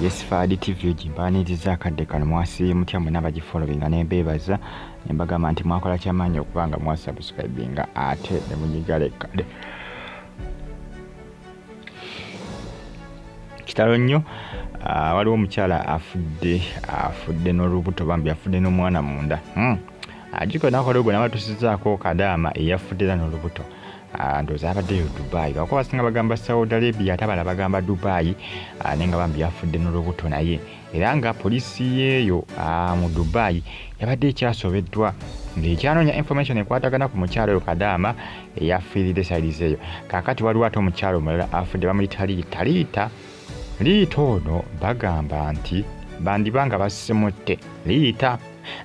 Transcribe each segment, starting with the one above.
yesifaadi tv egimpaniriza akadde kano mwasiye mutya mwena abagifolowinga nembeebaza nembagamba nti mwakola kyamaanyi okuba nga mwasubscribinga ate nemunyiga lekkade kitalo nnyo ah, waliwo omukyala afudde afudde n'olubuto bambi afudde n'omwana munda hmm. ajiko nakola ogwo nabatusizaako kadaama eyafudde era n'olubuto Ah, ndoza abaddeyo dubai lwakuba basinga bagamba saudi arabia ate abala bagamba dubai ah, naye nga bambi yafudde n'olubuto naye era nga poliisi yeeyo ah, mu dubai yabadde ekyasobeddwa ng'ekyanoonya information ekwatagana ku mukyalo oyo kadaama eyafiiride saidizi eyo kaakati waliwo ate omukyalo omulala afudde bamuyita liita liita liita ono bagamba nti bandiba nga basimutte liita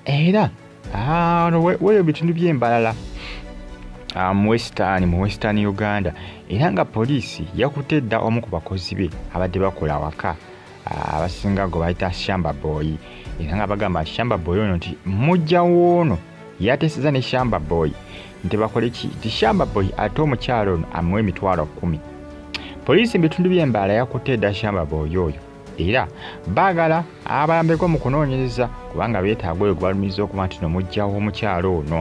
era Ah, ono we- weyo bitundu by'embalala ah, mu western mu western uganda era nga poliisi yakutte dda omu ku bakozi be abadde bakola awaka ah, abasinga gwe bayita shamba boy era nga bagamba nti shamba boy ono nti mujja woono yateeseza ne shamba boy nti bakole ki nti shamba boy ate omukyalo ono amuwa emitwalo kumi poliisi mu bitundu by'embaala yakutte dda shamba boy oyo era baagala abayambeko mu kunoonyereza kubanga beetaaga oyo gwebalumiriza okuba nti no mujjawo omukyalo ono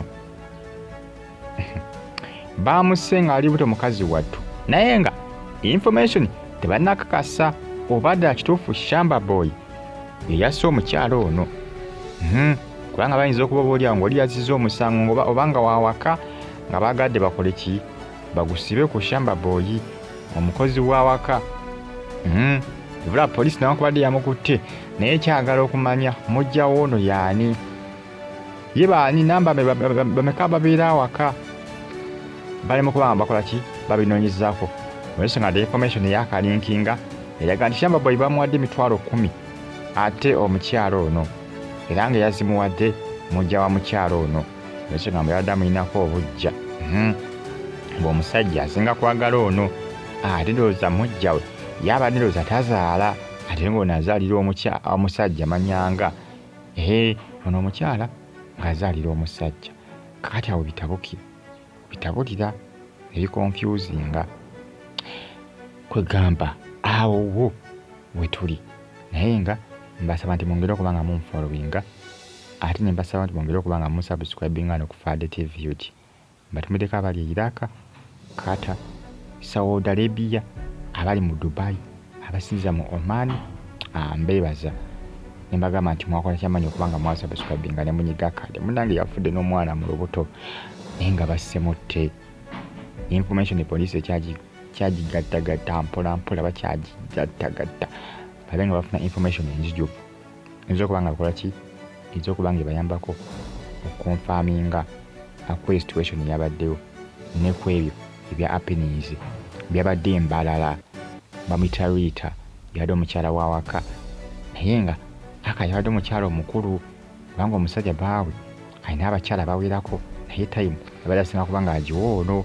baamusse ng'ali buto mukazi wattu naye nga information tebanakakasa oba ddala kituufu shamba boy yeyasse omukyalo ono hmm, kubanga bayinza okuba oba olyawo ngaoli yaziza omusango oba nga wawaka nga baagadde bakole ki bagusibe ku shamba boyi omukozi wawaka hmm. ebula poliisi nawankubadde yamukutte naye kyagala okumanya mujja woono yaani ye baani namba bameka babeera awaka balemu kubanga bakola ki babinoonyezako olwensonga the information eyakalinkinga eraga nti shamba boyi bamuwadde emitwalo kumi ate omukyalo ono era nga yazimuwadde mujja wa mukyalo ono ekigambo yabadde amulinako obujja hmm. ng'omusajja asinga kwagala ono ah, ate ndowooza mujja we yaba ndowooza tazaala ate ng'ono azaalira omusajja manyanga ee ono omukyala ng'azaalira omusajja kakati awo bitabukira bitabulira ebikonfyuzinga kwegamba awo wo wetuli naye nga mbasaba nti mungeri okuba nga munfollowinga Ate nembasaba nti mwongere okuba nga musubscribinga wano ku Fahd TV ug. Mbatumideko abali e Iraq, Qatar, Saudi Arabia, abali mu Dubai, abasinziza mu Oman, ah, mbebaza nembagamba nti mwakola kyamanyi okuba nga mwasubscribinga ne munyiga kade munange yafudde n'omwana mu lubuto naye nga bassemutte information police ekyagigattagatta mpolampola bakyagigattagatta babe nga bafuna information enzijuvu eyinza okuba nga bakola ki eyinza okuba nga ebayambako okonfaminga akweri situation yabaddewo nekwebyo ebya appeninze byabadde embalala bamuyita riita yabadde omukyala wawaka naye nga aka yabadde omukyala omukulu kubanga omusajja baawe alina abakyala bawerako naye time abadde asinga kuba nga agiwa ono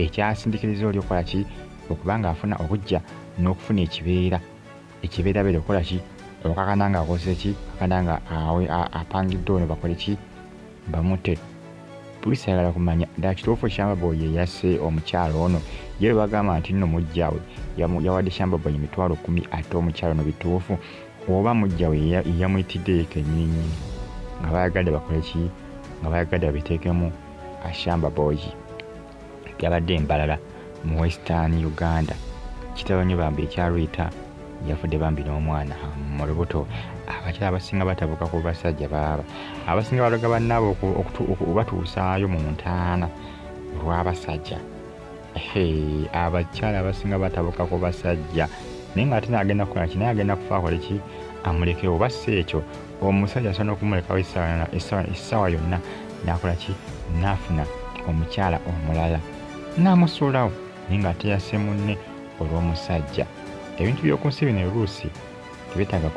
ekyasindikiriza oli okukola ki okuba nga afuna obujja n'okufuna ekibeera ekibeerabeera okukola ki okakana nga akoze ki akana nga apangidde ono bakole ki bamute poliisi ayagala kumanya ddala kituufu shambaboy yeyase omukyalo ono ye lwe bagamba nti nno mujjawe yawadde shambaboy emitwalo kumi ate omukyalo ono bituufu oba mujjawe yamuyitiddeyo kenyinyi nga bayagadde bakole ki nga bayagadde babiteekemu ashambaboyi yabadde embalala mu western uganda kitalo nyo bambi ekyarwita yafudde bambi n'omwana mu lubuto abakyala abasinga batabuka ku basajja baaba abasinga baloga bannaabo okubatuusaayo mu ntaana olw'abasajja abakyala abasinga batabuka ku basajja naye nga ate naagenda kukola ki naye agenda kufa akole ki amulekewo bassa ekyo omusajja asobola okumulekawo essaawa yonna nakola ki nafuna omukyala omulala namusuulawo naye nga ateyase munne olw'omusajja ebintu by'oku nsi bino oluusi tebetaaga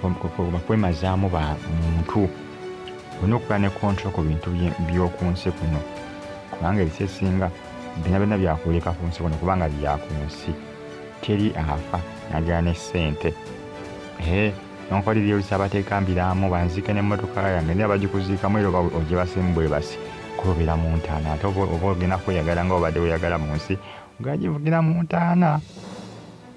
bakwemazaamu ba muntu olina okuba ne kontrol ku bintu by'oku nsi kuno kubanga ebisa esinga bina byonna byakuleka ku nsi kuno kubanga byaku nsi teri afa nagera ne ssente nonkora ebyolusi abateeka mbiraamu banziike n'emmotoka yange naye abagikuziikamu era oba ogyebasimu bwebasi kuba obeera mu ntaana ate oba ogenda kweyagala nga obadde weyagala mu nsi ogagivugira mu ntaana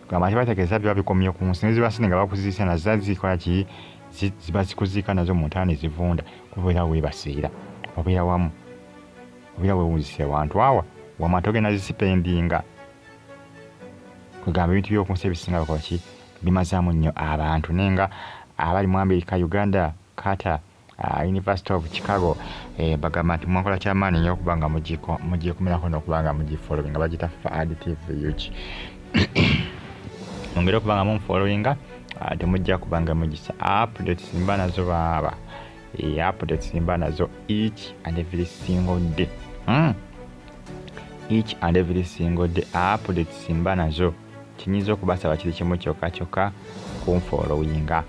gamba nti bategeeza biba bikomye ku nsi neziba sente nga bakuziise nazo zazikola ki ziba zikuziika nazo mu ntaana ezivunda kuba obeera webasiira obeera wamu obeera wewunzisa ewantu awa wama togenda zisipendinga kwegamba ebintu byokunsi ebisinga bakola ki Bimazamu nnyo abantu naye nga abali mu America, Uganda, Qatar, uh, University of Chicago eh, bagamba nti mwakola kyamaanyi nyo okuba nga mugyekumirako nokuba nga mugifollowing nga bagita fad tv ug mungeri okuba nga mumufollowinga uh, temujja kuba nga mugisa updates mba nazo baaba e, updates mba nazo each and every single day mm. each and every single day updates mba nazo Kyenyiza okubasaba kiri kimu kyoka kyoka kunfollowinga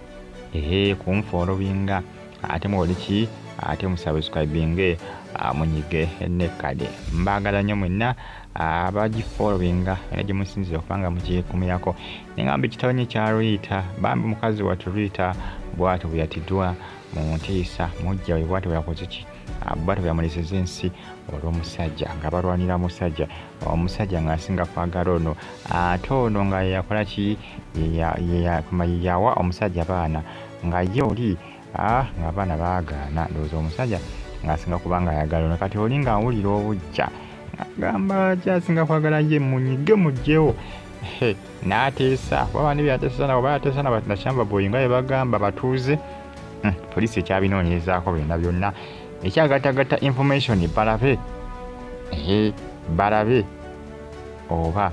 ehe kunfollowinga ate muwoliki ate musubscribinge ah, munyige nekade mbagala nyo mwena ah, abagifollowinga era gyemusinzira okubanga mugikumirako nengamba ekitabanye kya Rita bambi mukazi watu Rita bwatyo bweyatidwa mu ntiisa mujja we bwatyo bweyakozeki ah, bwatyo bweyamuleseza ensi olwomusajja nga balwanira musajja omusajja nga asinga kwagala ono ate ono nga yeyakola ki yeyawa omusajja baana nga ye oli ah, nga abaana bagaana ndowooza omusajja ngaasinga kubanga ayagala ono kati oli ngaawulira obujja agamba ki asinga kwagala ye munyige mugyewo n'ateesa waba ne byateesa nabo bayateesa nabakyamba boyi nga yebagamba batuuze hmm, poliisi ekyabinoonyerezaako byonna byonna ekyagatagata information balabe ehe balabe oba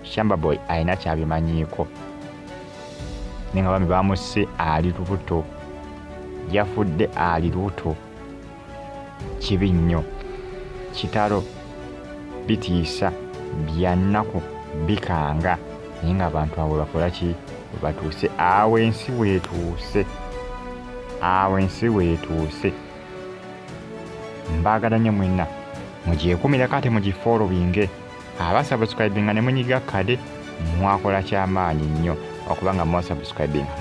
shamba boy alina kyabimanyiiko naye nga bami bamusse ali lubuto yafudde ali lubuto kibi nnyo kitalo bitiisa byannaku bikanga naye nga abantu abo bakolaki webatuuse awo ensi wetuuse awo ensi wetuuse mbaagala nnyo mwenna mugyekumirako ate mugifoolobinge abasabuscribinga ne munyiga kade mwakola kyamaanyi nnyo okubanga mwasabuscribinga